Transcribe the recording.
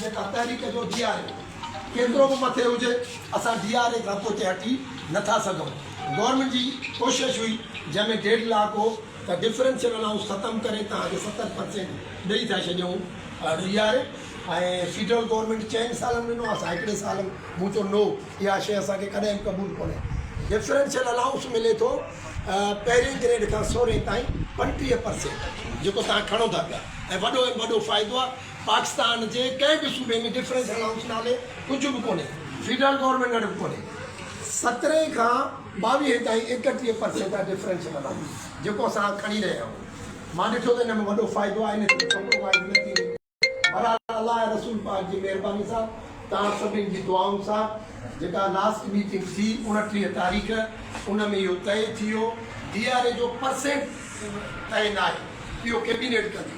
جيڪا تحريڪ جو ڊي آر اي ڪيترو به مٿي هجي اسان ڊي آر اي کان پوئتي هٽي نه ٿا سگهون گورنمينٽ جي ڪوشش هئي جنهن ۾ ڊيڊ لاڪ هو ته ڊفرينشل الائونس ختم ڪري تان جو ستر پرسينٽ ڏئي ٿا ڇڏيون D R A ۽ federal government چئن سالن ڏنو اسان هڪڙي سال مون چيو نو اها شي اسان کي ڪڏهن به قبول ڪونهي ڊفرينشل الائونس ملي ٿو پهرين گريڊ کان سورهين تائين پنٽيهه پرسينٽ جيڪو تان کڻو ٿا پيا ۽ وڏو ۾ وڏو فائدو آهي پاڪستان جي ڪنهن به صوبي ۾ ڊفرنس اينڊ هائوس نالي ڪجهه به ڪونهي، فيڊرل گورنمينٽ وٽ به ڪونهي، سترهن کان ٻاويهه تائين ايڪٽيهه پرسينٽ جا ڊفرنس ملن ٿا، جيڪو اسان کڻي رهيا آهيون، مان ڏٺو ته ان ۾ وڏو فائدو آهي نه ڪي ڪمپرومائيز نه ٿي رهي، بهرحال الله ۽ رسول پاڪ جي مهرباني سان توهان سڀني جي دعائن سان جيڪا لاسٽ ميٽنگ ٿي اڻٽيهه تاريخ ان ۾ اهو طئي ٿي ويو ڊي آر اي جو پرسينٽ طئي ناهي اهو ڪيبينيٽ ڪندي،